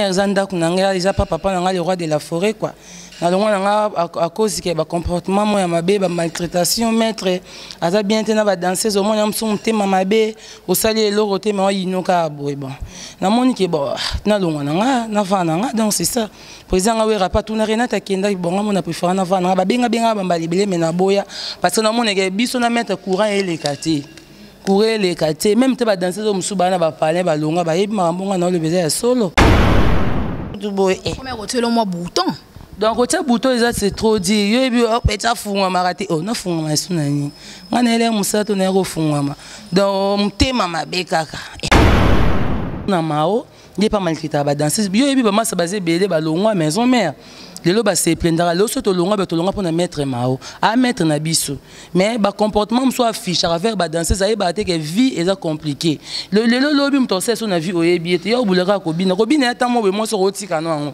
eza ndako na ngai eza pa papa na ngai le roi de la forêt quoi nalongwa na ngai akozi ke bacomportement moko ya mabe bamaltraitation maître aza bien te na badanseuse omoni ya mosusu motema mabe osali eloko te ma oyinoka boye bon namoni ke bo nalongwa na ngai navaa na ngai donc c'est ça po eza ngai werapa tuna renate akendaki bonga mona prefera navaa na ngai babenga benga bambala ebele me naboya parce que namoneke biso na maître courant eleka te courrier eleka te meme te badanse zo mosusu baa na bapalin balonga bayebi makambo ngai naoloba eza ya solo boye eh. kotyela mwa bouton donc otya bouton eza se trop dire yo yebi ete afungwamaka te o nafungwama esu na nini ngai nayeli ya mosala to naye kofungwama donc motema mabe kaka na mao ye mpe amalikitaka badanseuse yo oyebi bamasa baza ebele balongwa maison mare lelo baseplendaka lelo soki tolongwa be tolongwa mpo na maître mao a maître na biso mais bacomportement mosusu afichaka vers badanseuse ayebaka te ke vie eza compliqué lelo lobi moto akosala so na vie oyebi ye te yo obulaka kobina kobina ya ntango moboye mwasi okotika no yango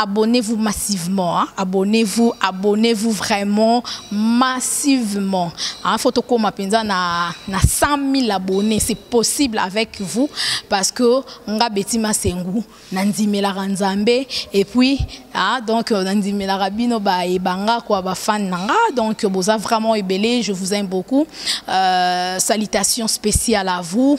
abonnez-vous massivement hein? abonnez-vous abonnez-vous vraiment massivement hein? faut tokoma mpenza na, na 100 000 abonnés c'est possible avec vous parce que nga beti masengu nandimelaka nzambe et puis hein? donc euh, nandimelaka bino bayeba nga kua bafane na nga donc boza vraiment ebele je vous aime beaucoup euh, salutations spéciales à vous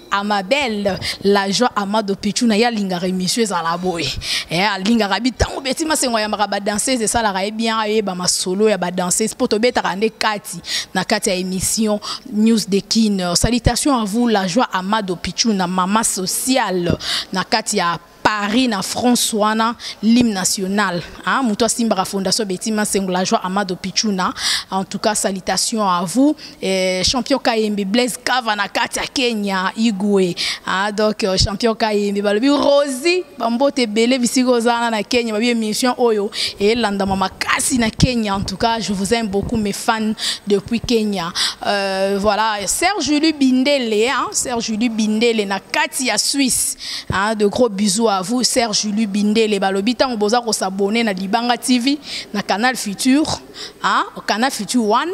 amabel la joie amado pichuna ye alingaka émission ezala boye eh, alingaka bi ntango beti masengo ayambaka badanseuse esalaka ye bien ayeba masolo ya badanseuse mpo tobetaka nde kati na kati ya émission news de kin salutation à vous la joie amado pichuna mama sociale na kati ya Paris na France wana l'hymne national hein muto simbaka fondation Betima Sengola joie Amado Pichuna en tout cas salutations à vous eh, champion Kayembe Blaise Kava na Katia Kenya Igwe hein donc euh, champion Kayembe balobi Rosie bambote belé bisiko zana na Kenya babi émission oyo et landa mama kasi na Kenya en tout cas je vous aime beaucoup mes fans depuis Kenya euh, voilà Serge Lubindele hein Serge Lubindele na Katia Suisse Hein, de gros bisous à vous, Serge Julie Bindele. Balobi, tant que vous avez s'abonner à Libanga TV, na Canal Futur, hein, Canal Futur One.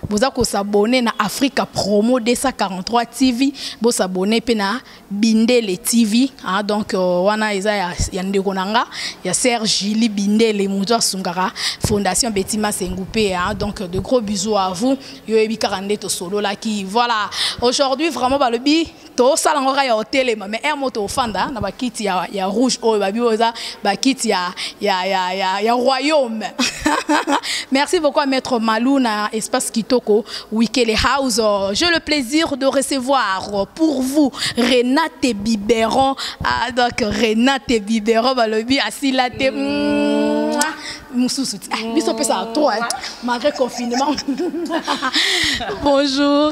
Vous avez s'abonner na Africa Promo 243 TV, vous s'abonner pe na Bindele TV, hein, donc euh, wana eza ya, ya ndeko nanga, ya Serge Julie Bindele, Moudwa Sungara, Fondation Betima Sengoupé, hein, donc de gros bisous à vous. Yo ebi karande to solo la qui, voilà. Aujourd'hui vraiment balobi tosala ngo kaka ya otelema mais heure moko tofanda na bakiti ya, ya rouge oyo babi oyo eza bakiti ya, ya, ya, ya, ya royaume merci beaucoup à maître malou na espace kitoko wikele house j'ai le plaisir de recevoir pour vous renate biberon ah, donc renate biberon balobi asila te mm. mosusu ti ah, biso opesaka trop malgré confinement bonjour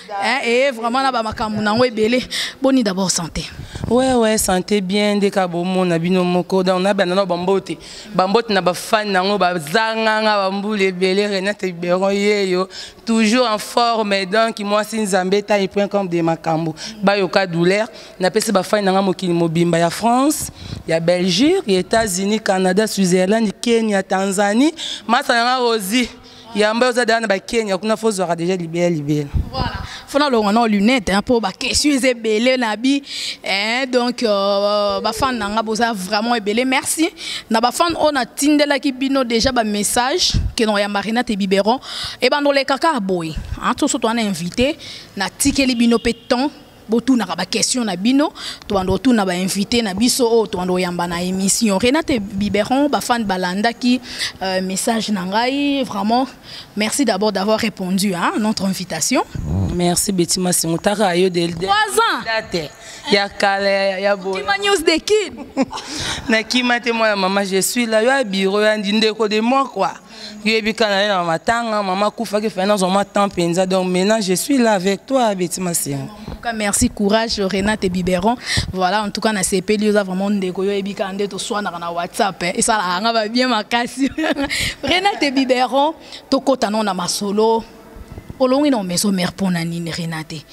Eh, eh, vraiment na bamakambo nango ebele boni d'abord santé ouais ouais santé bien nde ka bomona bino moko donc nabanda na bambote bambote na bafani nango bazanganga bambula ebele renate biberon yeyo toujours en forme donc mwasi nzambe taille point comme de makambo bayoka douleur napesi bafani nanga mokili mobimba ya france ya belgique ya états-unis canada switzerland kenya tanzanie masa nanga rosie yamba oza daya na bakenya kuna fo ozwaka deja libela libela fona longa na lunette mpo hein, bakestion eza ebele na bi eh, donc euh, bafane na nga boza vraiment ebele merci na bafane oyo natindelaki bino déjà bamessage kenoko ya marinate biberon ebanda oleka kaka boye toso towana invité natikeli bino mpe temps botunaka ba question na bino tobanda kotuna ba invité na biso oyo oh, tobanda koyamba na émission renate biberon bafane balandaki euh, message na ngai vraiment merci d'abord d'avoir répondu à hein, notre invitation merci betty masingo taka yo de date ya kala ya boyima news de kin nakima te mwana mama je suis là yo ya bureau ya ndindeko de moi quoi yoyebi kaka naye na matanga mama akufaki fai nazwa mwa temps mpenza donc maintenant je suis là avec toi beti masengo cas, merci, courage, Renate et Biberon. Voilà, en tout cas, na CP, lui, a vraiment des goyo et bikande, tout soit dans la WhatsApp. Hein. Et ça, là, on va bien ma casse. Renate et Biberon, tout côté, on a ma solo. Olongi na maison mère pour nanine Renate.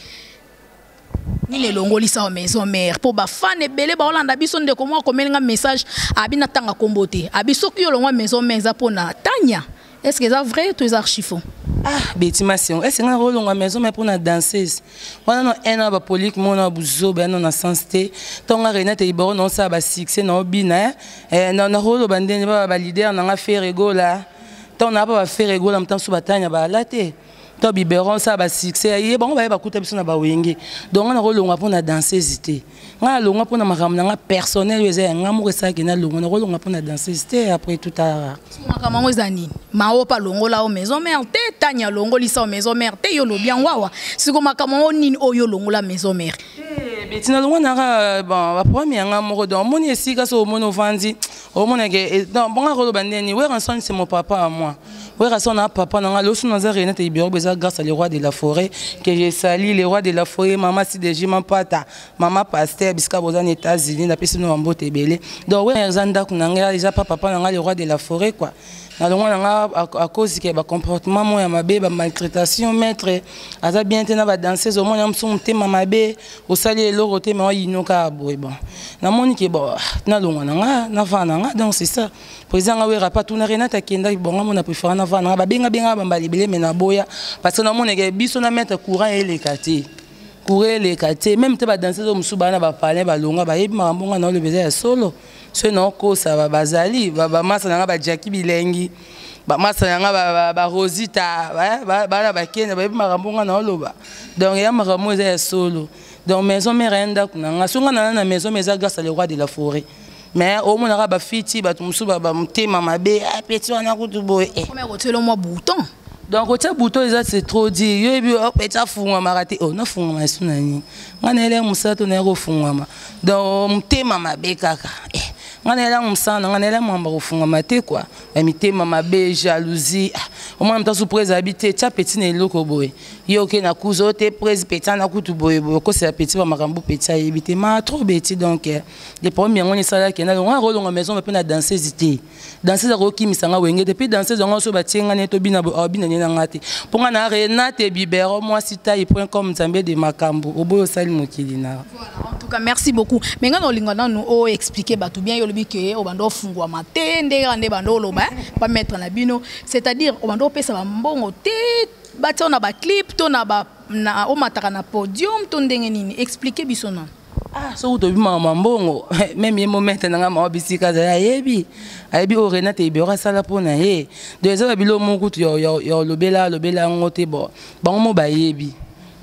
nini elongoli sawa maison mère mpo bafane ebele baolanda biso ndeko moko akomeli nga message abi natanga nkombo te abi soki yo olongwa maison mère eza mpo na tania est ce que eza vrai to eza archifo ah beti masengo ese nga kolonga maison mai mpona danseuse wana no un an bapolike mona ya buzoba yano na sens te ntongo nga renate liboro naosala basuccès na obina eh, nakoloba ndenge baba balider na nga feregola ntango na apa baferegola motanso batanya bala te to biberon sa ba succès ya ye bango baye bakuta biso na bawenge donc nga nakolonga mpo na danseuse te nga nalonga mpo na makambo na nga personnel oyo eza ya nga moko esalaki nalonga nakolonga mpo na danseuse te après tout ara makambo yango eza nini maopa alongola o maison mare te tani alongolisa o maison mare te yo olobi yango awa siko makambo yango nini oyo olongola maison mare eh, betina longo nanga euh, bon baproblème ya nga moko donc omoni esika so omoni ovandi omona ke eh, non bonga koloba ndeni werrason c'est mon papa à moi werrason na papa na nga losu naza renate ibiroko eza grâce à le roi de la forêt que je sali le roi de la forêt mama sideji mampata mama pasteur bisika boza na états-unis napesi no bambote ebele donc wera eza ndako na nga eza pa papa na nga le roi de la forêt quoi na longwa na nga akozi ke bacomportement moko ya mabe bamaltraitation maître aza bien te na badanseuse omona mosusu motema mabe osali eloko te mais oyino kaka boye bon namoni ke bon nalongwa na nga navaa na nga donc c'est ça président nga wera pa tuna renate akendaki bon nga mona préféra navaa na nga babenga benga bambala ebele mais naboya parce que namoneke biso na maître courant eleka te courant eleka te même te badanse zo mosusu baa na bapalin balongwa bayebi makambo nga naolobeza ya solo soki naokosa bazali bamasa na ngai bajaki bilengi bamasa na ngai barosita bana bakenda bayebi makambo ngai naoloba donc ya makambo eza ya solo donc maison mare ya ndako na ngai soki ngai nana na maison ma eza grâce à le roi de la forêt mais omonaka bafiti bato mosusu bamotema mabe ah, peti wana kutu boye eh. otyelo mwa bouton donc otia buto eza se trop dire yo yebi opeti oh, afungwamaka te o oh, nafungwama esu na nini ngai nayelai mosala to naye kofungwama donc motema mabe kaka eh, ngai nayela mosala na ngai nayela mwamba kofungama te kua bamitema mabe jalousie ah, omwana moto asu prese abi te tya peti na eloko boye ye oke na kuza oyo te prese peti ana kutu boye boye okosela peti bamakambo peti ayebi te ma trop beti donc eh, le problème yango nde esalaki nalonga nakolonga maison mpe na danseuse te danseuse akoki kimisa nga wenge te mpe danseuse yango so batie nga ne tobina boye abina ne na nga te mpo nga na renate bibero mwasi tai point com nzambe de makambo oboyi osali mokili na en tout cas merci beaucoup me nga na olinga nanu o expliquer bato bien yo olobi ke obanda ofungwama te nde kaka nde banda oloba bametre na bino c'est à dire obanda opesa bambongo te batia na baclip to na omataka na podium to ndenge nini expliquer biso nanu ah soki tobimaka mwa mbongo meme ye momete na ngai mawa bisika azali ayebi ayebi oyo renate ibero asala mpo na ye donc ezaka bilo moko kutu ya olobela alobela yango te bo bango mo bayebi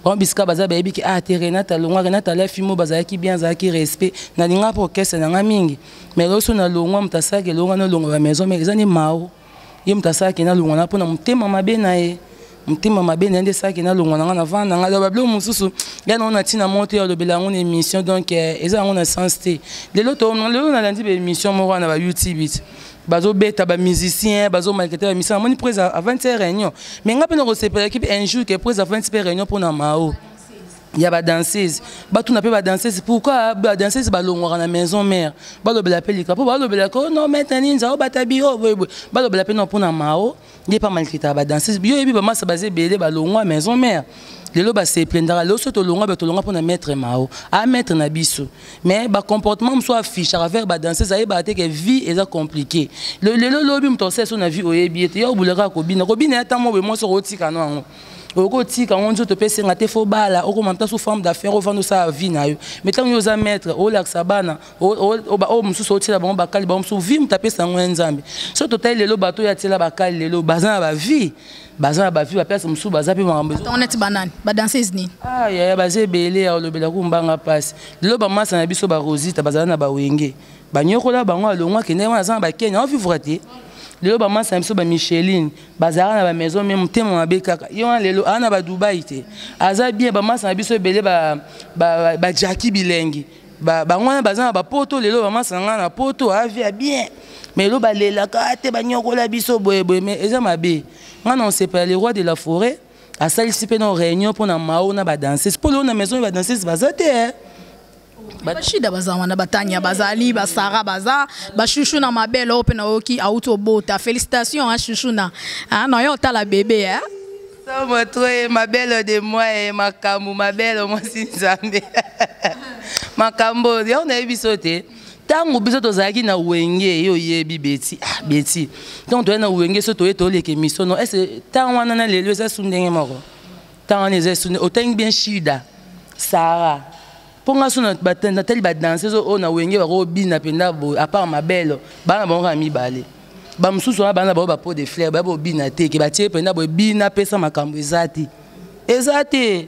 bango bisika baza bayebi ke ah te renate alongwa renate alafi mo bazalaki bien azalaki respect nalingaka mpo orchestre na ngai mingi mais loso nalongwa moto asalaka elonga nolonga bamaison mare eza nde mao ye moto asalaki nalongwa na mpo na motema mabe na ye motema mabe na ye nde esalaki nalongwa na ngai navanda ngai aloba biloko mosusu ngai nango na ntina moko te alobela yango na émission donc eh, eza yango na sens te lelo lelo nalandi baémission moko wana ba youtube bazobeta bamusicien bazomalkete bamisala amoni pres avandi se réunion mais ngai mpe nakosepelaki mpe un jour ke pres avandi mpe réunion mpo na mao ya ba danseuse batuna mpe ba danseuse pourquoi ba danseuse balongwaka na maison mère balobela mpe lika mpo balobela ko no mete nini nzao batabi o oh, boyeboye balobela mpe no mpona mao ye mpe amalikitaka ba danseuse yo oyebi bamasa baza ebele balongwa maison mère lelo baseplendaka lelo soki tolongwa be tolongwa mpona maître mao a ah, maître na biso mais bacomportement mosusu afichaka vers badanseuse ayebaka te ke vie eza compliqué lelo lobi moto asala so na vie oyebi ye te yo obulaka kobina kobina ya ntango boye mwasi okotikano yango oyoki otika yango nzoto mpe esenga te fo bala okoma mpe sous forme d'affaire ovanda osala vie na yo mais ntango yo oza maître olakisa bana oyo mosusu otyela bango bakali bango mosusu vie moto apesa yango ya nzambe so totali lelo bato oyo atyela bakali lelo baza na bavie baza na bavie baplace mosusu baza mpe makambo neti banani badanseuse nini ah, yaya baza ebele ya olobela kumbanga mpasi lelo bamasa na biso barosita bazala na bawenge banyokola bango alongwa kende wana aza na bakenya ovivre te lelo bamasa na biso bamicheline bazalaka na bamaison me motema mabe kaka ye wana lelo aa na badubai te aza bien bamasa na biso ebele bajaki bilengi bango wana baza na bapoto lelo bamasa na ngai na poto avi ya bien me lelo balelaka ah, te banyokola biso boyeboye me eza mabe ngai na osepela le roi de la forêt asalisi mpe na réunion mpo na mao na badanses mpo lelo na maison ya badanses baza te eh. bashida baza wana batania bazali basara baza bashushu na mabele oyo mpe nayoki auti obota félicitation a shushu na ah, na yo otala bebe eh? somo troye mabele de moi eh, makambo mabele mwasi nzambe makambo oyo yango nayebi biso te ntango biso tozalaki na wenge ye oyebi beti ah, beti ntango toyei na wenge so toye toleke misono ese ntango wana na lelo eza su ndenge moko ntango wana eza esoni otangi bien shida sara mpo nga so natali badanseuse oyo na wenge bakobina mpenza boye apart mabelo bana bango kaka mibale bamosusu wana bana bango bapo de flaire baya bobina te ke batie mpenza boye bina apesa makambo eza te eza te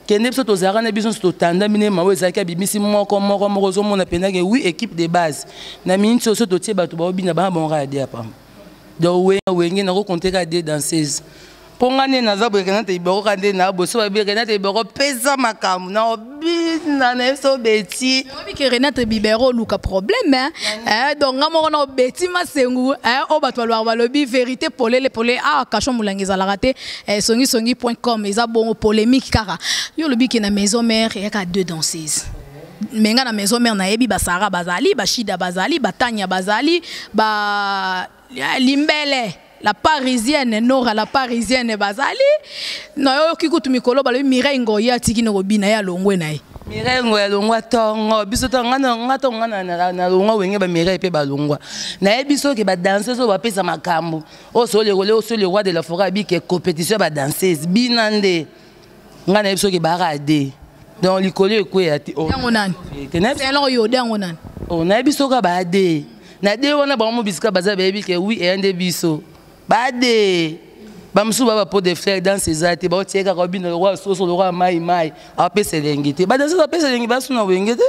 kende biso tozalaka na biso nyonso totandami na ema oyo ezalaki abimisi moko moko moko ozomona mpenza ke wi équipe de base na miniti oyo so totie bato baobina bana bango kaka de apama donc wenge nakokonteka de danseuse mpo ngai nde naza boye renate iboko ka nde na boso babi renate iboko pesa makambo na obina na biso beti oyebi ke renate bibero oluka problème eh, donc ngai moko na obeti masengu eh, oyo bato balobaka balobi vérité polele polele awa ah, cachon molangi ezalaka te eh, songisongi point com eza bongo polémique kaka yo olobi ke na maison mère eyaka deux danseuses me ngai na maison mère nayebi basara bazali bashida bazali batania bazali ba limbele la parisienne nora la parisienne bazali nayoki kutu mikolo balobi mireille ngoya atiki nokobina ye alongwe na ye mireille ngoya alongwa tongo biso tonga tonga nalongwa wenge bamireille mpe balongwa nayebi soki badanseuse oyo bapesa makambo oyo soolekole oyo soolekwa de la foret abike compétition ya badanseuse bina nde nga nayebi soki ebaka ade donc likolo ekweya te oh. yango nani selon yo de yango nani oh, nayebi soki baade na de wana bango mobisika baza bayebi ke wi eya nde biso baade bamosusu ba bapo de frere danse eza te baotie kaka obina lokola soso lokola mai mai apesa elengi te badanse apesa elengi basuna wenge te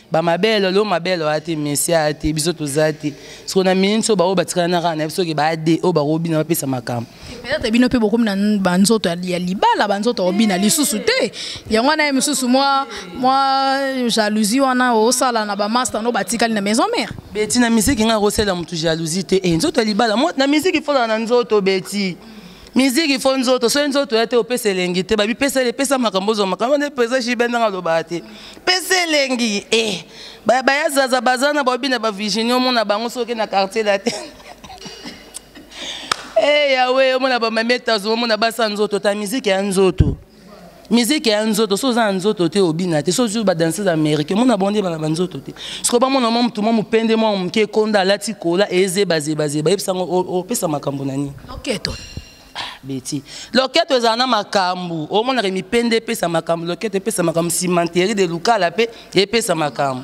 bamabele lelo mabele oya te messi aya te biso toza te soko na minute oyo baoyo batikala na kaka na biso oke baade oyo bakobina bapesa makambo peut-être bino mpe bokomi na banzoto ya libala banzoto obina lisusu te yango wana ye mosusu mwa mwa jalousie wana osala na bamasta no batikali na maison mare beti na misiki ngai akosalela motu jalousie te e nzoto ya libala na misiki folaka na nzoto beti miziki fo nzoto soki nzoto ya te opesa elengi te babi pesa epesa makambo ozwa makambo nde pesa jibe ndenge alobaka te pesa elengi e eh, baya zaza baza na baobi na bavirginie omona bango soki na quartier la te e eh, yawe omona bamami etazo omona basa nzoto ta miziki ya nzoto miziki ya nzoto so oza na nzoto te obina te so ozwi badanseuse américain mona bango nde bana banzoto te sikoyo bamona mwa motu mwa mopende mwa moke ekonda alati kola ezebazebazeba yebisa yango opesa makambo na nini loketo ah, beti loketo ezala na makambo omonaka mipende epesa makambo loketo epesa makambo simanteri de lukala mpe epesa makambo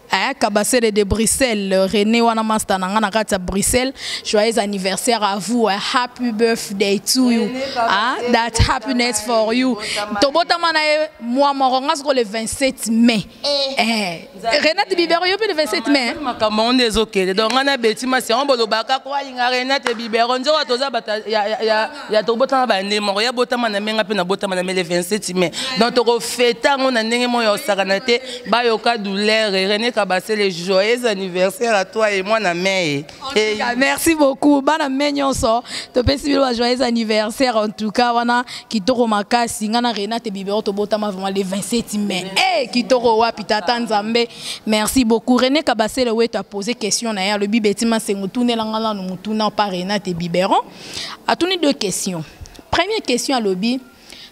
Hein, Kabasele de Bruxelles, euh, René wana master nanga na kati Bruxelles. Joyeux anniversaire à vous, hein. happy birthday to you. Hein, that happiness for you. Tobota mana moi moronga soko le 27 mai. Eh. eh. Renate Bibero yo le 27 mai. Hein. Makambo on des okele. Donc on a beti ma c'est on bolobaka ko alinga Renate Bibero nzo toza bata ya ya ya tokobota na bande moko ya botama na menga mpe nabotama na mele 27 mai donc tokofete yango na ndenge moko ya kosakana te bayoka douleur rene kabasele joyeux anniversaire à toi et moi na mai merci beaucoup bana mai nyonso topesi bino ba joyeux anniversaire en tout cas wana kitoko makasi ngai na renate bibero tobotama vraiment le 27 mai e kitoko wapi tata nzambe merci beaucoup rene kabasele wetu apose question na ye alobi betima nsengo tunela ngai nanu motuna mpa renate biberon atuni deux questions première question alobi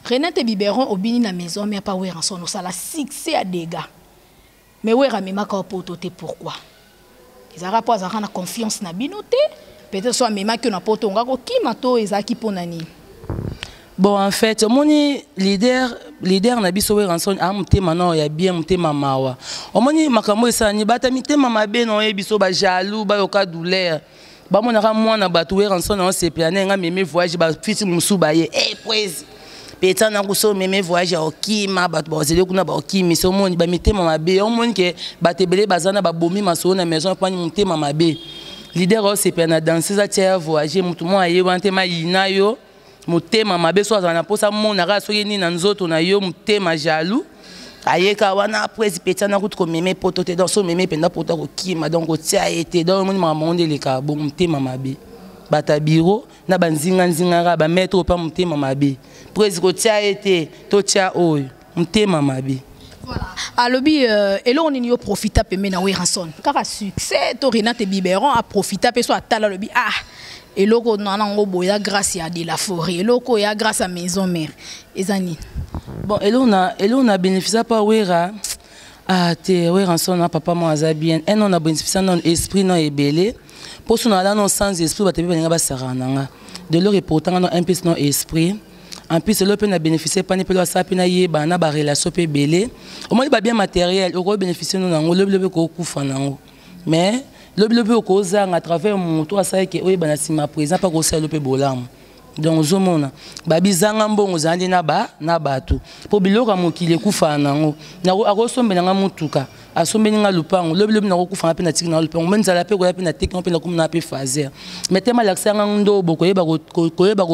renate biberon obini na maison mère pa weranson osala succès ya dégâts mais wera amemaka yo poto te pourquoi ezalaka mpo azalaka na confiance na bino te peut-être so amemaki yo na poto onga kokima to ezalaki mpo na nini bon en fait omoni leader leader na biso weranson a ah, motema nao ya bien motema mawa omoni makambo esalani bata mitema mabe na oyebi biso bajaloux bayoka douleur bamonaka mwana bato weranson na osepela na nga meme voyage bafiti mosusu baye e poesi peta na kuso meme voyage ya okima bato bazali kuna baokimi so omoni bamitema mabe omoni ke bato ebele baza na babomi masolo na maison epani motema mabe lider osepela na danse eza tia ya voyage motu mwa aye wana te mayina yo motema mabe so azala na mposa amonaka soki nini na nzoto na yo motema jaloux ayeka wana apres petit ana kutu komeme poto te donc so omeme mpenza poto akokima donc otia ye te donc omoni makambo yango nde elekaka bongo motema mabe bato ya biro na banzinganzingaka bamaitre oyo mpa motema mabe presi kotia ye te totya oyo motema mabe Voilà. alobi euh, eloko nini yo profita pembe na weranson kaka succès to renate biberon aprofita mpe so atala alobi ah eloko na nango boye ya grâce ya de la forêt eloko ya grâce ya maison mère eza nini bon eloko na eloko na bénéficia mpa wera ah te weranson na papa moko aza bien un non na bénéficia non esprit non ebele mposo na ala non sans esprit bato mpe balinga basakana na nga de lor epotanga non un pesi non esprit en plus lelo mpe na bénéficie epani mpe asala mpe nayeba na barelation mpe ebele omoni babien matériel okoki bénéficie no nango lobilobi okokufa nango mais lobilobi okozanga à travers moto asala ke oyeba na nsima présent mpe akosala yo mpe bolamu donc ozomona babizanga mbongo ozala nde na bato mpo biloko ya mokili ekufaa nango akosombela nga motuka asombeli nga lupango lobi lobi nakokufa nga mpe natiki nanga lupango me nzala mpe koya mpe nateki nga mpe nakumi nanga mpe faser me te malakisa yanga ndobo koyeba koyeba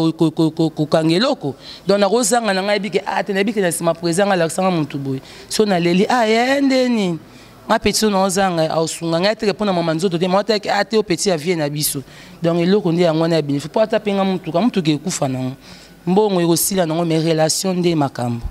kokanga eloko donc nakozanga na ngai yebike a ah, te nayebike na nsima président nga alakisa nga motu boye so naleli a ah, yaya nde nini nga peti so naozanga aosunga ngai teke mpo na mama nzoto te mama teke ate ah, o peti ya vie na biso donc eloko nde yango wana ya benefice mpo ata mpe nga motuka motuka ekufa nango mbongo ekosila nango mais relation nde makambo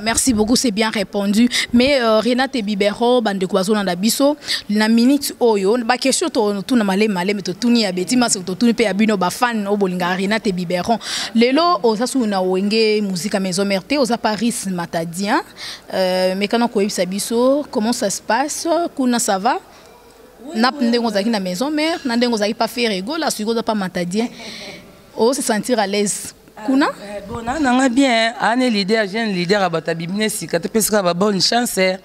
merci beaucoup c'est bien répondu mais euh, renate bibero bandeko bazolanda biso na minute oyo baquestion totuna malemi malemi totuni ya beti masi totuni mpe ya bino bafan oyo bolingaka renate biberon lelo oza suu na wenge musika maison mare te oza paris matadien euh, mekana koyebisa biso comment ça se passe kuna ça va na ndenge ozalaki na maison mare na ndenge ozalaki pa ferre egola sikoyo oza pa matadien o se sentir à l'aise kuna eh, eh, bona nanga bien ane leader jeune leader abata bibine sika topesaka ba bonne chance eh.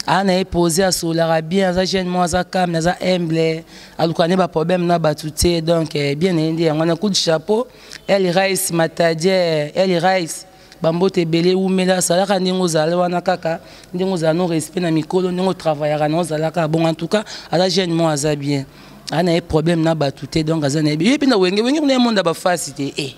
ana ye pose asololaka bien aza jeune mo aza calme aza humble aluka nde baproblème na bato te donc eh, bien na ye nde yango wana coup de chapeau el rice matadie el rice bambote ebele wumela asalaka ndenge ozala wana kaka ndenge ozala no respect na mikolo ndenge otravayaka na ozalaka bongo en tout cas aza jeune mo aza bien aza na ye problème na bato te donc aza na ye ye mpe na wenge wenge kuna ye monde ya bafasi te e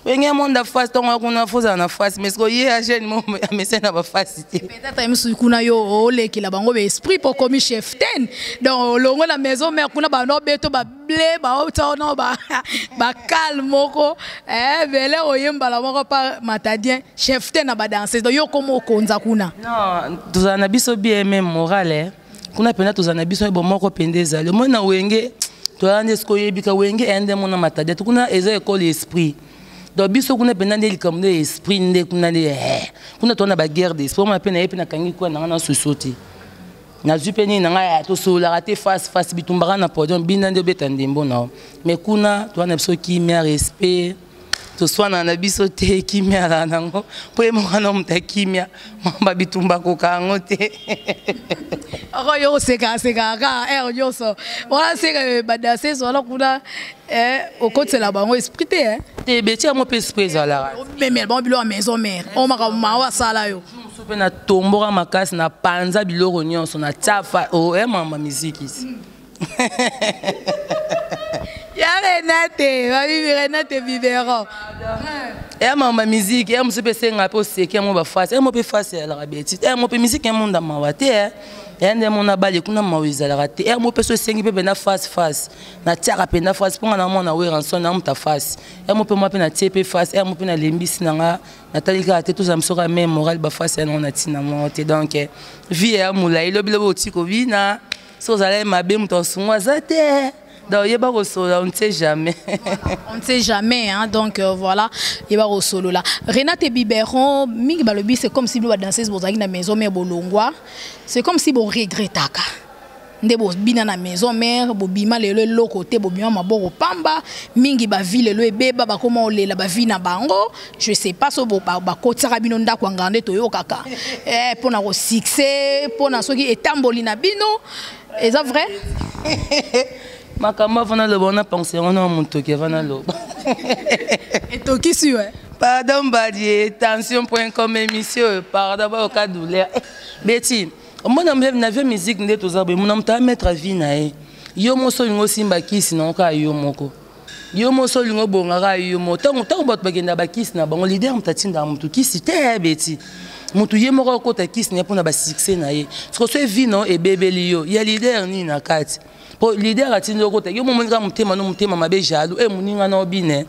wenge ya monde ya fasi ntongo ya kuna fo ozala na fasi mais sikoyo ye ya jeune mo amesai na bafasi te peut-être ye mosusu kuna yo olekela bango ba esprit mpo okomi chef ten donc olongo na maison mère kuna bana obeto ble baotia wana bakale moko eh, bele oye mbala moko pa matadien chef te na badanse do yo koma okonza kuna tozala na biso bmm morale eh. kuna mpenza tozala na biso ebo moko mpenza ezali omoi na wenge toyala nde soki oyebika wenge eye nde mona matadien to kuna eza ekole esprit donc biso kuna mpenza nde likambo nde esprit nde kuna nde eh. kuna toza na baguerre d'esprit omona mpe naye mpe nakangi kuna nanga na soso te nazwi mpe nini na ngai ah, tosololaka te face face bitumbaka na podium bina nde obeta ndembo na yo mais kuna toa na biso kimia respect toswanaka na biso te kimia azala nango mpo ye moko na moto ya kimia mamba bitumba koka yango te oko yo osekasekaka kaka heure nyonso wana seka ebanda seso wana kuna eh, okotisela bango esprit te te beti yango mpe esprit ezalaka omemela bango biloko ya maison mare oyo makambo mawa asala yo biso mpe natomboka makasi napanza biloko nyonso natya fa o oh, e eh, mama mizikisi ya renate babibi renate biberon ya mama miziki ya mosusu mpe esenga mpe oseki yango bafasi yango mpe fasi ezalaka beti yango mpe miziki ya monda mawa te eh. ya nde mona bale kuna mawa ezalaka te yango mpe so esengi mpe mpenza fasi fasi natiaka mpenza fasi mpo nga na mwana weranson na moto afasi yango mpe mwa mpe natie mpe fasi yango mpe nalembisi na nga natali kaka te tozala moso kaka meme morale bafasi yango na ntina moko te donc eh, vie ya molai lobi lobi oti kobina soki ozala ye mabe moto asungu aza te donc yeba kosolola on ne sait jamais on ne sait jamais hein, donc euh, voilà yeba kosolola renate biberon mingi balobi c'est comme si bino badanseuse bozalaki na maison mare bolongwa c'est comme si boregretaka nde bobina na maison mère bobima lelo eloko te bobima maboko pamba mingi bavi lelo ebeba bakoma olela bavi na bango je sais pas so bakotisaka bino ndako ya nganda toyokaka eh, mpo na kosuccès mpo na soki etamboli na bino eza vrai makambo avana loba wana pense yango na motoki avana loba etokisi we pardon badie tension point com émission pardon bayoka douleur eh, beti omona na vie musique nde toza boye mona moto ametre vie na ye yo moso olingi osimba kisi nango kaka yo moko yo moso olingi obonga kaka yo moko ntango ntango bato bakenda bakisi na bango lider moto atindaka motu kisi te eh, beti motu ye moko akota kisi na ye mpona basuccès na ye soko so evino ebebeli yo ya lider nini na kati mpo lider atindi okota yo momoni kaka motema no motema mabe jaloux e eh, moninga na obine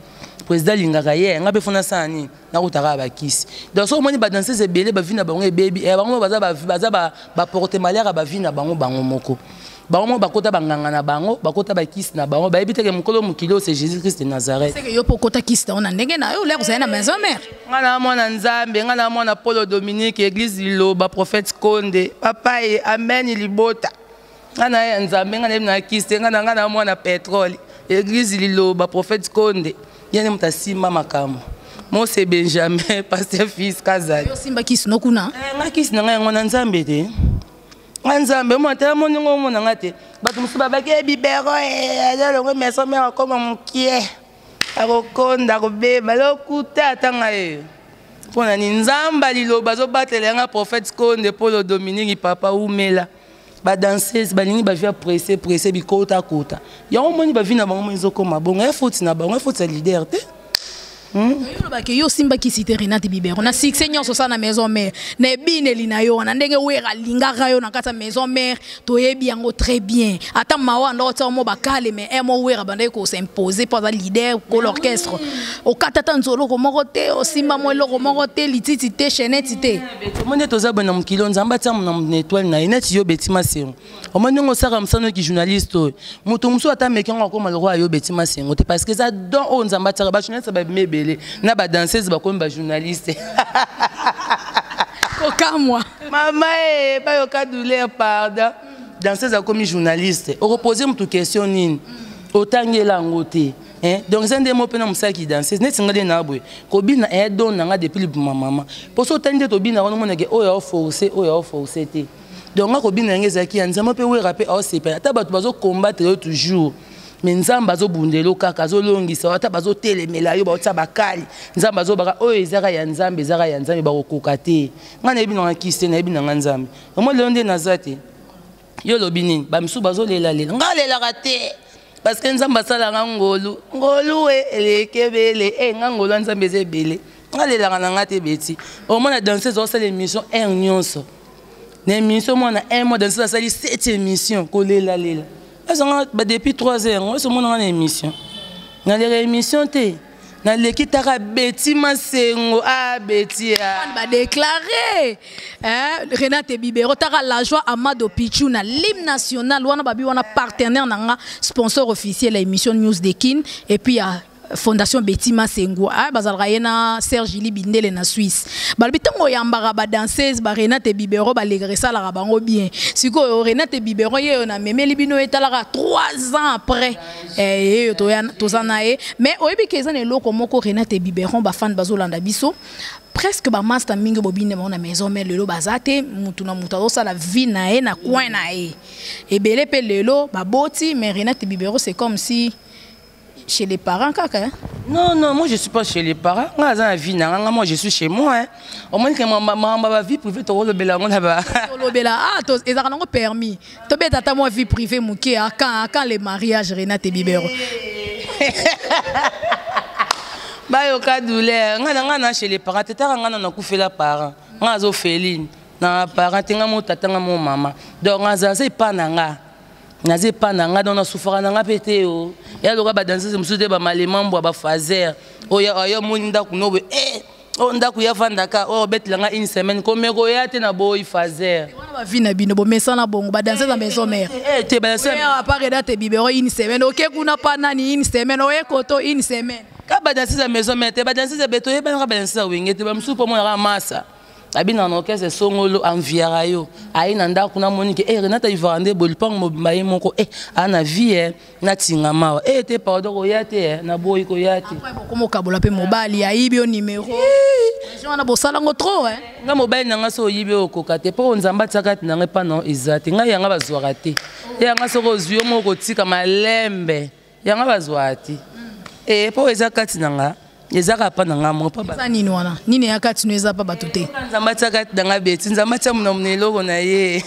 président alingaka ye eh, ngai mpe fona sala nini nakuta kaka bakisi donc soki omoni badanseuse ebele bavi na bango ebebi eh, bango baza baporte malere ya bavi na bango bango moko bango moko bakota banganga na bango bakota bakisi na bango bayebi teke mokolo mokili oyo se jésus christ de nazareth yo mpo okota kisi na yo na ndenge na yo olya kozali na maison mare ngai na mwana nzambe ngai na mwana polo dominique église liloba prophète konde papa ye amen libota nga na ya nzambe nga nayebi na kisi te nga na nga na mwana petrole eglise liloba prophète konde ye nde moto asimba makambo mose benjamin paster fils kazali osimba kisi no kuna eh, nga kisi na nga yango na nzambe te nga nzambe mwana tala moni ngo omona nga te bato mosusu babaki ye eh, bibero eh, azalongo maison mare akoma mokie akokonda akobeba lokuta ata nga ye mpo na ni nzambe liloba azobatela yanga prophète konde polo dominique papa umela ba danseuse balingi bavi ya presse presse bikota kota yango omoni bavi na bango mo ezokoma bongo ya foti na bango ya foti ya leader te hmm? olobaki yo osimbaki site renate bibero na succès nyonso osala na maison mare na ebineli na yo wana ndenge wera alingaka yo na kati ya maison mare toyebi yango très bien ata mawa ndoko tia mo bakale mais eh, mo wera abandaki kosimpose mpo aza leader kolo ah orchestre okata ata nzoloko moko te osimba mo eloko moko te lititi te cheneti te omoni ete oza boye na mokili oyo nzambe atia na etoile na ye neti yo beti masengo omoni ndenge osaka mosano ki journaliste oyo moto mosusu ata meki yango akoma lokola yo beti masengo te parce que eza don oyo nzambe atiaka bajournaliste babimi ebele na badanseuse bakomi bajournaliste kokamwa mama e bayoka douleur pardon danseuse akomi journaliste okopose motu question nini otangela yango te mm. Eh, donc eza nde mo mpe na mosalaki danseuse neti ngai nde na boye kobina e eh, don na ngai depuis libuma mama mpo so otali nde tobina wana omonake oyo aoforce oyo aoforce te donc nga kobina yango ezalaki ya nzambe mpe wera mpe aosepela ata bato bazokombatre yo toujours me nzambe azobundela yo kaka azolongisa yo ata bazotelemela yo baotya bakali nzambe azobaka oyo ezaka ya nzambe ezaka ya nzambe bakokoka te ngai nayebi nanga kisi te nayebi nanga nzambe yango lelo nde naza te yo olobi nini bamisusu bazolelalela nga alelaka te parce que nzambe asala nga ngolu ngolu e eleki ebele e nga ngolu ya nzambe eza ebele nga alelaka na nga te beti omona danseuse osala émission heure nyonso na émission mwana un mois danseuse asali sept émission kolelalela azanga depuis trois heures yango osomona nga na émission naleka émission te naleki taka beti masengo a ah, beti ah. badeklare eh, renate bibero taka la joie amado pichu na lime national wana babi wana partenaire na nga sponsor officiel ya émission news de kin et puis ya fondation beti masengo ah, bazalaka ye na serge ili bindele na suisse balobi ntango oyambaka badanseuse barenate bibero balekaka esalaka bango bien sikoyo renate bibero yeyo namemeli bino etalaka 3 ans après Eh, eh, toza na ye mais oyebi ke eza na eloko moko renate biberon bafane bazolanda biso presque bamasta mingi bobinde bango na maison mai lelo baza te motu na motu azosala vie na ye na coin na ye ebele mpe lelo baboti mais renate bibero c'est comme si chez les parents kaka hein? non non moi je suis pas chez les parents nga aza na vie nanga nga moi je suis chez moi hein. omoni ke mamamba bavie privé tokolobela yango na ba tolobela ah ezalaka nango permis tobeta ata mwa vie privée moke a quand a quand le mariage renate bibero bayoka douleur ngai na ngai na chez les parents te taka ngai na nakufela parent ngai azofeline na parent te ngai mo tata ngai mo mama donc ngai aza epa na ngai naza epa na ngai donc nasufaka na ngai mpe te o ya loka badanseuse mosusu te bamalema mbwa bafazer oyo omoni ndako nobe e eh, oyo oh, ndako ya vandaka oyo oh, obetela nga une semaine komeko ya te na boyi fazer wana bavi na bino bomesana bongo badanse na maison mare eh, eh, te badanseapareda te bibero une semaine oke kuna pa nani une semaine oye koto une semaine ka badanse ya maison mare te badanse ya beto oyebanaka badanse ya wenge te bamosusu mpo monaka masa abina na orchestre songolo anviara yo aye na ndako namoni ke e eh, renata ivara nde bolipango mobimba ye moko e eh, ana vie eh. natinga mawa e eh, te pardon koya te eh, naboyi koya te okomokabola mpe mobali ayibi yo nimero wana bosala yango trop eh. nga mobali na nga so oyibi oyo okoka te mpo nzambe atia kati na ngai mpana eza te ngai yanga bazwaka te te yanga soki ozwi yo moko kotika malembe yanga bazwaka te e mpo eza kati na nga eza kaka mpa na ngai moko eza nini wana nini ya kati no eza mpa bato te nzambe atia kati na ngai beti nzambe atia monamona eloko na ye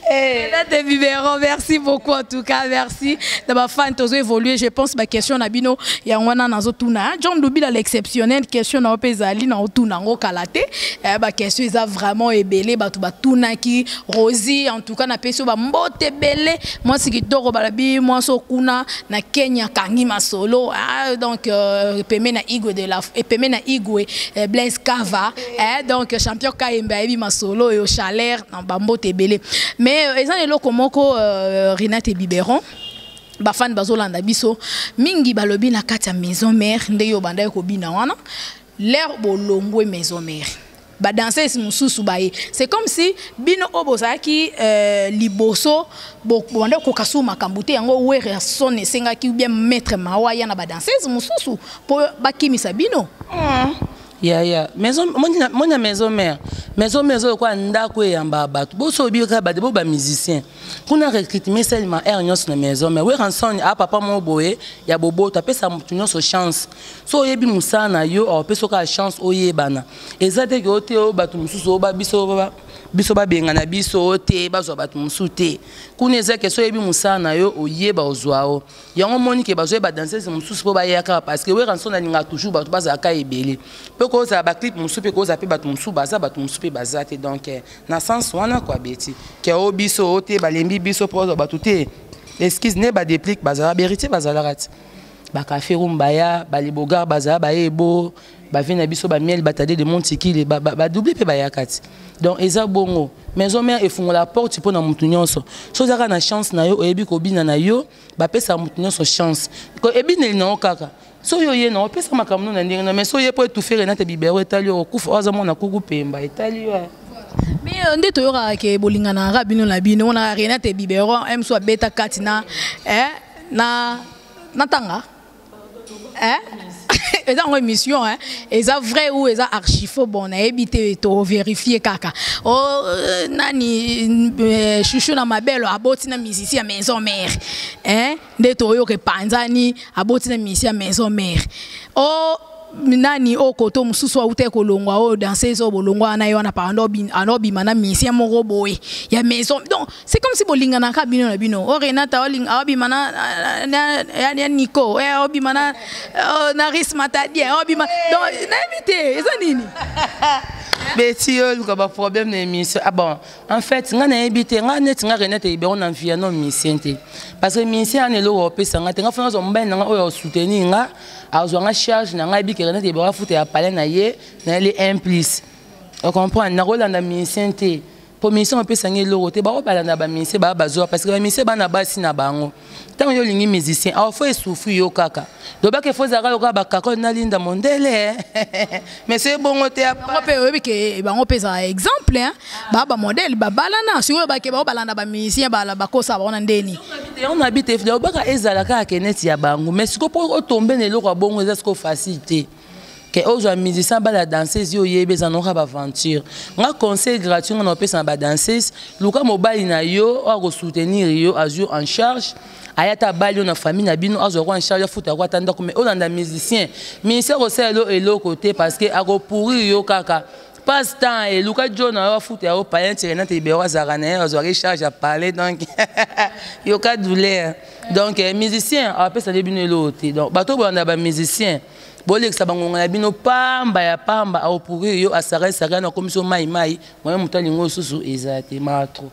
Hey. Eh. de biberon merci beaucoup en tout cas merci na bafan tozo évoluer je pense baquestion na bino yango wana nazotuna hein. john lubila l'exceptionnel question na yo mpe ezali na otuna yango kala te eh, baquestion eza vraiment ebele bato batunaki rosi en tout cas napesi yo bambote ebele mwasi kitoko balabi mwasi okuna na Kenya kangi masolo ah, donc euh, epeme na Igwe de la epeme na Igwe euh, Blaise Kava eh, donc champion Kayembe ayebi masolo yo chaleur na bambo tebele mais euh, eza eloko moko euh, Renate Biberon bafani bazolanda biso mingi balobi na kati ya maison mère nde yo obandaki kobina wana lere bolongwe maison mère ba danseuse mususu baye c'est comme si bino oyo bozalaki euh, liboso bobanda kokoka susu makambo te yango werrason esengaki bien maître mawa ya na ba danseuse mosusu mpo bakimisa bino mm. ya ya maison moni ya maison mère maison mère ezolokola ndako eyamba bato bosobi kaka bato bo bamusicien kuna recrutement esalema heure nyonso na maison mère werrason a papa moko boye ya boboto apesa moto nyonso chance so oyebi mosala na yo opesi oka ya chance oyebana eza te ke oyo te oyo bato mosusu oyo biso biso babengana biso oyo te bazwa bato mosusu te kuna eza ke so oyebi mosala na yo oyeba ozwa o yango omoni ke bazwa badansese mosusu mpo bayaka parce que weranson alingaka toujours bato bazalaka ebele mpe kozala baclipe mosusu mpe kozala mpe bato mosusu baza bato mosusu mpe baza te donc eh, na sens wana kua beti ke o biso oyo te balembi biso mpo bazwa bato te excuse ne badeplique bazala beritier bazalaka te bakafe rum baya balibogar bazala baye ebo bavie na biso bamiel batade de montikili badouble mpe bayaka ti donc eza bongo maison mare efungola porte mpo na motu nyonso so ozalaka na chance na yo oyebi kobina na yo bapesaka motu nyonso chance ebineli na yo kaka so yo oye na opesa makambo na ndenge na mais so oye mpo etufere na te bibero etali yo okufa oyo aza mwana kuku pemba etali yo eh. mais euh, nde toyokaka ke bolinganaka bino na bino wana renate biberon mso abeta kati na eh, na natanga eh? eza yango émission hein? eza vrai ou eza archifo bon nayebi te toverifie kaka o oh, euh, nani euh, chouchou na mabelo aboti na misisi ya maison mère hein? nde toyoka epanzani aboti na misisi ya maison mère o oh, nani oyo koto mosusu awutaki kolongwa oyo danseuse oyo bolongwa wana ye wana pando anobima na musicien moko boye ya maison donc c'est comme si bolinganaka bino na bino o oh, renata awabima ya nico awabima eh, na oh, na ris matadien awabima donc nayebi te eza nini beti yo oluka baproblème na émission ah bon en fait ngai nayebi te ngai neti ngai renate ebero na mviano musicien te parce que musicien ana eloko opesa ngai te ngai fana azwa mobali na ngai oyo osoutenir ngai azwa nga charge na ngai bikela nete ebaka futa ya palais na ye nayeli implice ocomprendre nakolanda minisien te mpo minisien opesa ngai eloko te bao balanda baminisien baa bazwa parce que baminisien bana basi na bango ntango yo olingi musicien awa fo esufri yo kaka lobaka efo ezalaka lokola bakakole na linda mondele mais soki bongo te bango mpe oyebi ke eh, bango mpe ezala exemple hein. ba ba modèle babalana sikoyo bake bango balanda bamusicien bakosa bango na ndeni yango na bi te obaka ezala kaka ke neti ya bango mais sikoyo mpo otombe na eloko ya bongo eza sikoyo facile te ke ozwa musicien bala danseuse yo oyebi eza noka baaventure nga conseil gratuit nga na opesa na badanseuse luka mobali na yo oyo akosoutenir yo azwi en charge aya ata abali yo na famille na bino azwa kwa nsharge afuta yako ata ndako mai olanda musicien ministère kosala elo eloko te parce que akopourrir yo kaka passe temps eluka jo na yo afuta yango payen tirenate libero azalaka na ye azwaki charge ya parle donc yoka douleur donc eh, musicien apesa nde bino eloko te donc bato oyo bolanda bamusicien bolekisa bangonga na bino pamba ya pamba aopourrir yo asakasaka na komisi yo mai mai moye moto alingi osusu eza te maa trop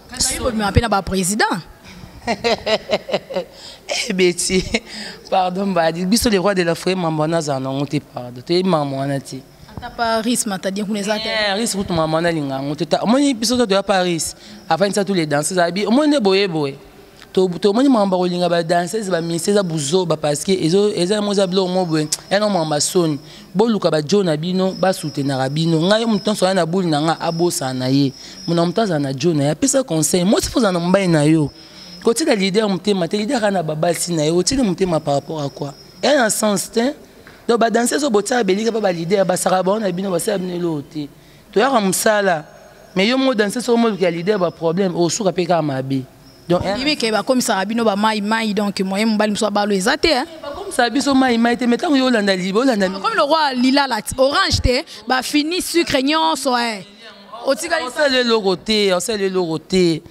bobima mpe na baprésident eh, beti pardon mbadi biso le roi de la foye mambo wana azala nango te pardon toyebi mambo wana te ata paris matadien kuna eza teris eh, kutu mambo wana alinga yango te omoni biso to toya paris afandisa tu le danse ezabi omoni nde boye boye tomoni makambo bakolinga badanseuse bamisi eza buzoba parceke eza yango eza biloko moko boye yana makambo basoni boluka bajo na bino basutenaka bino ngai yo moto nyonso aya na buli na ngai abosana na ye mona moto azala na jo na ye apesa conseil mosi fo ozala na mobali na yo kotika lider motema te lider kaka na babasi na ye otiki motema par rapport à quoi eya na sens te donc badanseuse oyo botiaka belika mpe balider basaka bango na bino basala bino eloko te toyaka mosala mais yo moko danseuse oyo moluka lider baproblème osuka mpe kaka mabe donc ndimi ke bakomisaka bino bamai mai donc moye mobali mosusu abalo eza te eh? bakomisaka biso mai mai te me ntango yo olanda liba olanda komi lokwa lilala orange te bafini sucre nyonso eh. otikaliosala eloko te osala eloko te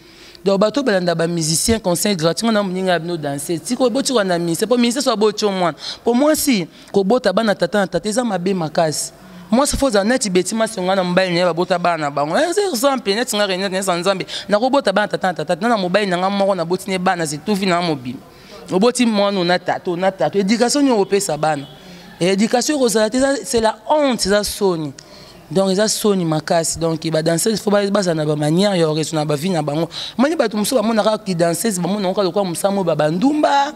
donc bato balanda bamusicien conseil gratuit nga na moninga ya bino danse tiko botikwa na ministère mpo ministère so abotio mwana mpo mwasi kobota bana tata na tata eza mabe makasi mwasi fo ozala neti beti masi nga na mobali naye babota bana na bango eh, eza mpe neti nga renete nesa nzambe nakobota bana tata na tata na mobali na nga moko naboti ne bana zetuvi na mobima oboti mwana ona tata ona tata edikatio nini okopesa bana edikatio ekozala te c'est la honte eza soni donc eza soni makasi donc ba danseuse fo bazala na ba manière ya oreso na ba vie na bango moni bato mosusu bamonaka ki danseuse bamonaka kaka lokola mosala moyo babandumba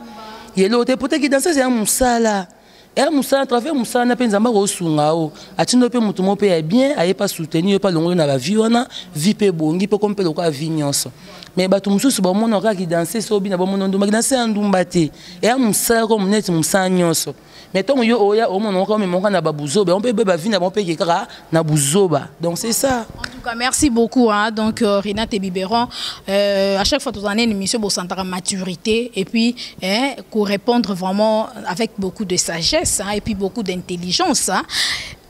yelo te pota ki danseuse ya mosala ya mosala na travers mosala na mpe nzambe akosunga o atindo mpe moto moko mpe ya bien aye mpe asoutenir yo mpe alongoli na ba vie wana vie mpe ebongi mpe komi mpe lokola vie nyonso mais bato mosusu bamonaka ki danseuse oyo bina bamono ndumba ki danseuse ya ndumba te ya mosala ko moneti mosala nyonso mais ntango yo oya omona oka omema oka na babuzoba yango mpe bavi na bango mpe eke kaka na buzoba donc c'est ça en tout cas merci beaucoup hein. donc euh, renate biberon euh, à chaque fois tozala na une émission bosantaka maturité et puis hein, korépondre vraiment avec beaucoup de sagesse hein, et puis beaucoup d'intelligence hein.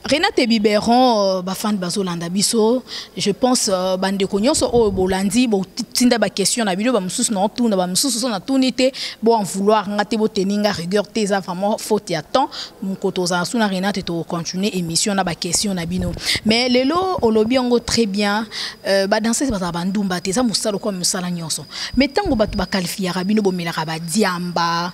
Renate Biberon euh, ba fan bazolanda biso je pense euh, bandeko nyonso oyo bolandi botinda ba question na bino ba mosusu na otuna ba mosusu so na tuni te bo en vouloir nga te boteni nga rigueur te eza vraiment faute ya temps moko tozala suna Renate to continuer émission na ba question na bino mais lelo olobi yango très bien euh, ba danseuse bazala ba ndumba te eza mosala kwa mosala nyonso mais ntango bato bakalifiaka bino bomelaka ba diamba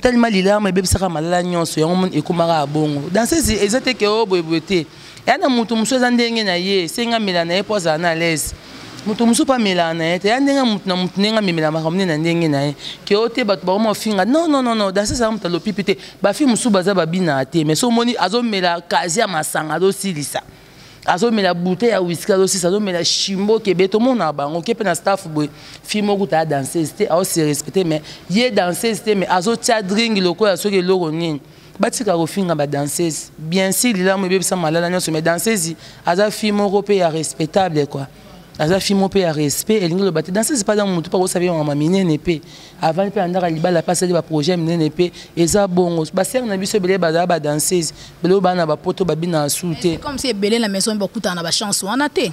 tellement lilama ebebisaka malala nyonso yango moni ekomaka ya bongo dansese eza te ke o oh, boyeboye te eya na moto mosusu eza ndenge na ye esengi amela na ye mpo azala na alaise moto mosusu mpe amelaka na ye te ya ndenge moto na moto ndenge amemela makambo nde na ndenge na ye ke o oh, te bato bakoma ofinga non non non non dansese yango moto alopipi te bafi mosusu baza babinaka te mais so omoni azomela kazi ya masanga azosilisa azomela bute ya wiski azosisa azomela shimbo kebe tomonaka bango ke mpe na staff boye fille moko kuta ya danseuse te aose respecte mais ye danseuse te mais azotya dring lokola soki eloko nini batika kofinga badanseuse bien si lilamu ebebisa malala nyonso mais danseuse aza fille moko mpe ya respectable quoi aza fille moko mpe ya respect elingi loba te danseuse mpe aza motu mpe akosabi mama minene mpe avandi mpe andaka libala mpe asali baprojet minene mpe eza bongo basere na biso ebele bazala badanseuse bele oyo baa na bapoto babina asur te comme si ebele na maison bakutana na bachance wana te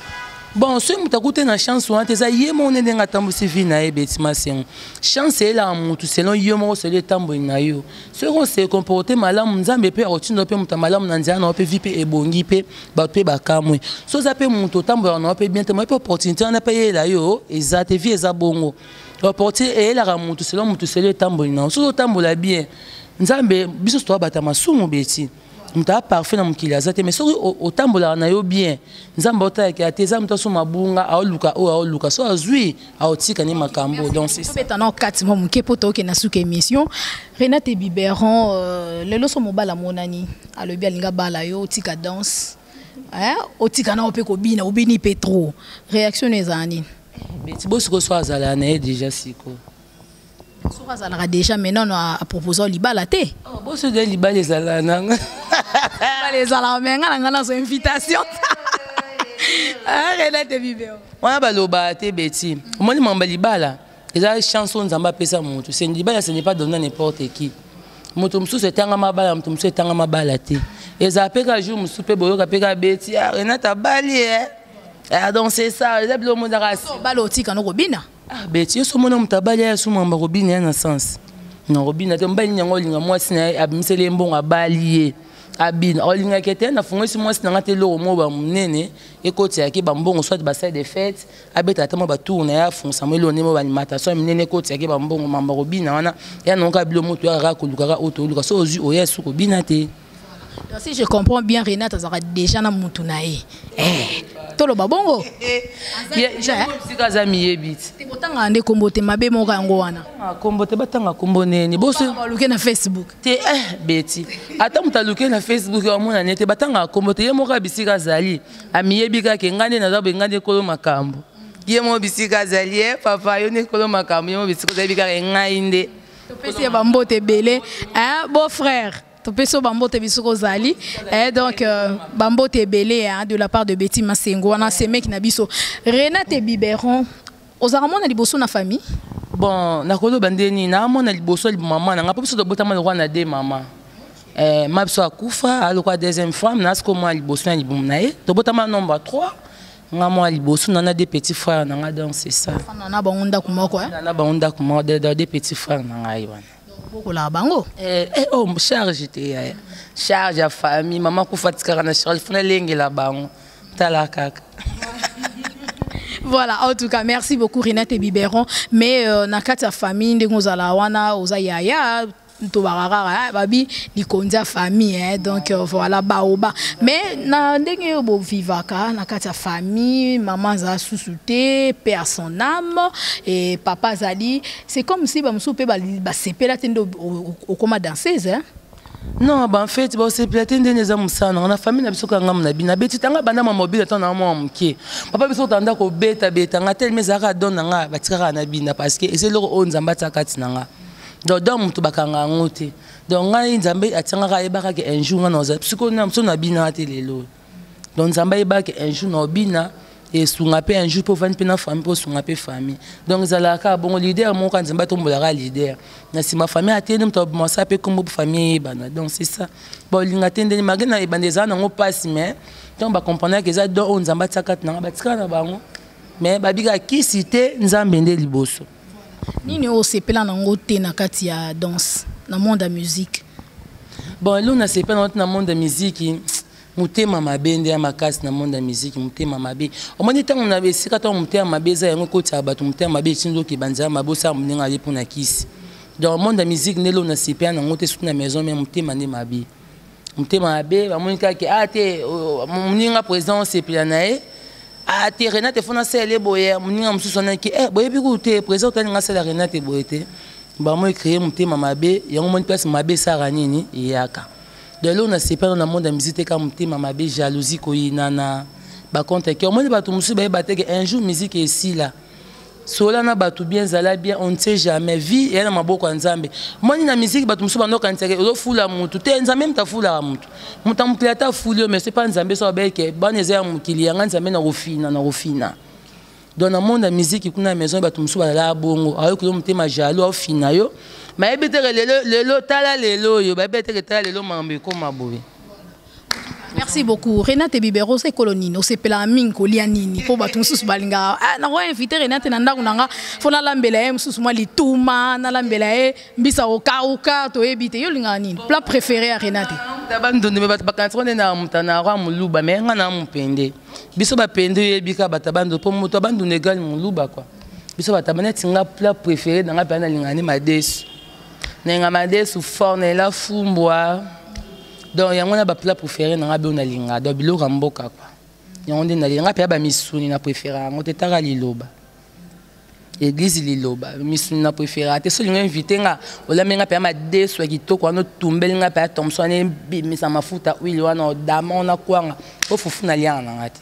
bon soki moto akuti na chance wana te eza ye moko nde ndenge atambwisi vie na ye beti masengo chance eyelaka motu selon ye moko seli etamboli na yo soki ose comporte malamu nzambe mpe akotinda mpe moto ya malamu na nzela na yo mpe vie mpe ebongi mpe bato mpe bakamwe so oza mpe moto otambolaka na yo mpe bien te moye mpe opportunité wana mpe eyela yo eza te vie eza bongo opportunité eyelaka motu selon motu selo etamboli na yo soki otambola bien nzambe biso nyonso toabata masumu beti moto aa parfait na mokili aza te mais soki otambolaka na yo bien nzambe aotalaka te eza moto asoma bunga aoluka oyo aoluka so azwi aotika ne makambo doncobetana okati mwa moke mpo tookende na suka émission renate biberon euh, lelo so mobala monani alobi alinga bala yo otika danse eh, otika nao mpe kobina obini mpe trop réaction no ezala nini beti bosiko so azala na ye déjà siko soki azalaka déjà maintenant no apropose o libala te oh, boso de libala ezala nanga libala ezalaka me nga na nga nazo invitation renate bibeo wana balobaka te beti omoni mamba libala eza chance oyo nzambe apesa motu libala ce n'est pas donne n'importe qui moto mosusu etangama bala moto mosusu etangama bala te ezala mpe ka jour mosusu mpe boyoka mpe ka beti ah, renate abali e eh. ah, donc c'est ça eza bilo omonaka bala otika no kobina ah, beti yo somona moto abali ya sumamba kobina ya na sens na kobina te mobali nini yango olinga mwasi na ye abimiseli ye mbongo abali ye abina olingaki ete nafungwisi mwasi na ngai te eloko moko bamonene ekotiyaki bambongo soit basai de fete abeta ata mwa batour na ye afungisa mo elonde mo balimataso ya minene ekoti yake bambongo mamba kobina wana ya nayoka bilo moto ya kaka kolukaka oyo toluka so ozwi oya suku obina te Donc si je comprends bien, Renat azaka déjà na mutu na ye. Eh, toloba bongo. Sika za miyebi. Te botanga nde kombo te mabe moko yango wana. Kombo te batanga kombo nene. Boso baluke na Facebook. Te eh beti. Ata mutaluke na Facebook ya mona nete batanga kombo te ye moko abisika zali. amiyebi kaka engai nde naza boye engai nde kolo makambo ye mo bisika azali ye eh, papa yo nde kolo makambo ye mo bisika ozayebi kaka engai nde topesi ye bambote ebele eh, beau frère topesi yo bambote biso kozali eh, donc euh, bambote ebele de la part de betty masengo wana semeki na biso renate biberon ozalaka mwana liboso na famille bon nakoloba nde nini naa mwana liboso ya mama na ngai mpo biso tobotama lokola na de mama eh, ma biso akufa alokola deuxième femme naa sikoyo mwana liboso na libumu na ye tobotama nombre 3 nga mwa liboso nana de petit frère na ngai donc c'est ça na bango ndako moko eh? na bango ndako moko de petit frère na ngai wana bokolaka bango eh, eh, oh, charge te yaya charge ya famille mama kufa tikaka na charge funa elengela bango tala kaka voilà en tout cas merci beaucoup Renate et Biberon mais euh, na kati ya famille ndenge ozala wana oza yaya tobaka kaka eh, babi likonzi ya famille eh, donc euh, voilà baoba mais na ndenge oyo bovivaka na kati ya famille mama azala susu te père son âme et papa azali C'est comme si ba musupe ba ba sepela tende au coma danseuse hein. Non, bah en fait, bah c'est platé ndene eza musana. On a famille na biso kanga mna bina beti tanga banda ma mobile tant na mwa muke. Papa biso tanda ko beta beta nga tel mais aka don nga ba tika na bina parce que ese loko o nzamba tsaka tina nga. Donc dans mutu bakanga ngote. Donc nga nzambe atanga ka ebaka ke un jour nga na oza. Parce que na mso na bina te lelo. donc nzambe ayebaka un jour na obina esunga mpe un jour mpo ovandi mpe na famille mpo osunga mpe famille donc ezalaka kaka bongo leader moko nzambe atombolaka leader na nsima famille ateyeli moto aboma sa mpe nkombo famille eyebana donc c'est ça baolinga te ndeni malgre na ebanda ezala nango mpasi mais ntango bacomprendaka eza don oyo nzambe atiaka kati nanga batikala na bango mais babika kisi te nzambe nde liboso nini oyo osepela nango te na kati ya danse na monde ya musique bon elo nasepela nango te na monde ya miziki motema mabe nde ya makasi na monde ya miziki motema mabe omoni ntango na esika ntango motema mabe eza yango ekotisa bato motema mabe etindi oke banzela mabe osala moninga ye mpo na kisi donc monde ya miziki nde elo nasepela nango te soki na maison me motema nde mabe motema mabe bamoni kaka ke ah te moninga président osepela na ye ah te renate fona asala ye boye moninga mosusu wana ke eh boyebi kutu te président otalinga asala renate boye te bamoi créer motema mabe yango moni place mabe esaka nini eyaka donc eloko nasepela na monde ya musike te kaka motema mabe jalousie koyinana bacompte ke omoni bato mosusu bayeba te ke un jour musike esila sola na bato bien zala bien on ne sait jamais vie eya na maboko ya nzambe moni na miziki bato mosusu bandokanisaka ozofula motu te nzambe moto afulaka motu moto ya mokili ata afuli yo mais soki mpa nzambe so abeke bana eza ya mokili yanga nzambe na kofina na kofina donc na monde ya miziki kuna ya maison ya bato mosusu balalaka bongo ayoki yo motema jalo aofina yo mayebi teke lelo lelo tala lelo oyo bayebi teke tala lelo makambo ekoma boye merci beaucoup renate bibero oza ekolo nini osepelaka mingi kolia nini mpo bato mosusu balingaka ah, nako invite renate na ndako na nga mpo nalambela ye mosusu mwa lituma nalambela ye mbisa okauka toyebi te yo olingaka nini plat préféré ya renate bandondo me bato bakanisa nde na motana yango ya moluba me nga na mopende biso bapende oyebi ka bato ya bandondo mpo moto ya bandondo egale moluba kua biso bato ya neti nga plat préféré na nga mpe nalingaka nde madesu nalinga madesu fort nalela fumbwa donc yango na ba plat préféré na nga be na linga donc biloko mboka quoi yango nde na linga pe ba misuni na préféré yango te taka liloba église liloba misuni na préféré te so linga invité nga olame nga pe ma desu kitoko wana tumbel nga pe Thompson ne bimisa mafuta huile wana odama ona kwanga ofufu na lianga na nga te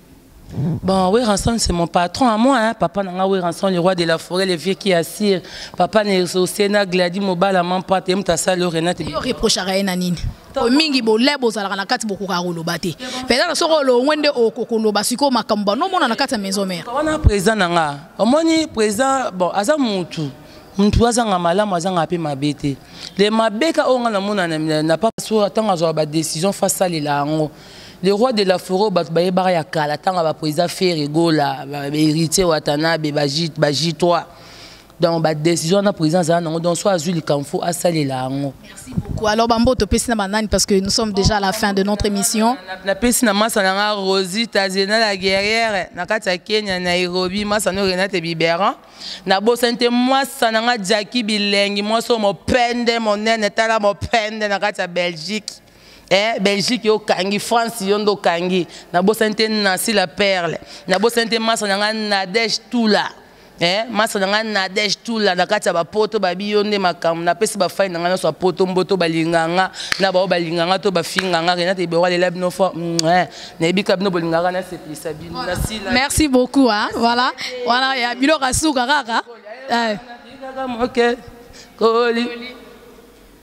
Bon, Weranson, c'est mon patron à moi, hein. Papa Nanga Weranson, le roi de la forêt, le vieux qui assire. Papa Nerzo, Sena, Gladi, Mobala, Mampa, Temta, Salo, Renate. Yo reproche à Raena Nini. mingi bolebi bozalaka na kati bokokaka koloba te mpenza soki olongwe nde okokoloba sikoyo makambo banomona na kati ya maison mare wana président na nga omoni président bon aza mutu mutu azanga malamu azanga mpe mabe te le mabeka oyo nga namona na papa so ntango azwaka badécision fa asalela yango le roi de la forêt oyo bato bayebaka ya kala ntango ya baprésida fere gola héritier watanabe bajitoi donc badécision wana président azala nango donc so azwi likambo fo asalela yango alors bambo topesi na banani parce que nous sommes déjà à la fin de notre émission napesi na masa na nga rosita zena la guerrière na kati ya kenya nairobi masa no renate biberan nabosani te mwasa na nga jaki bilengi mwasi oyo mopende monene tala mopende na kati ya belgique eh, belgique yo okangi france yo nde okangi nabosani te nancy la perle nabosani te masa na ngai nadege tula eh, masa na ngai nadege tula na kati ya bapoto babi yo nde makambo napesi bafai na ngai nyonso ya poto mboto balinga nga na bao balinga nga to bafinga nga renate ebero alela bino fo mm, eh, nayebi ka bino bolingaka nasepelisa bino merci beaucoup hein? voilà wana ya biloko asuka kaka eh. koli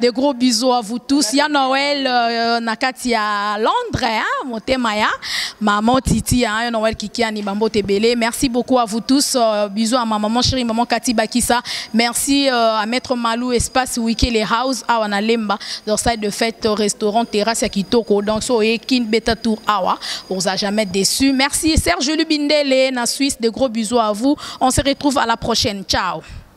De gros bisous à vous tous. Ya Noël euh, na kati ya Londres, hein, motema ya maman Titi, hein, ya Noël Kikiani Bambo Tebele. Merci beaucoup à vous tous. Euh, bisous à ma maman chérie, maman Kati Bakisa. Merci euh, à Maître Malou, espace Wikele House, awa na Lemba, leur salle de fête, euh, restaurant, terrasse ya Kitoko. Donc so et Kin Beta Tour awa, on vous a jamais déçu. Merci Serge Lubindele na Suisse. De gros bisous à vous. On se retrouve à la prochaine. Ciao.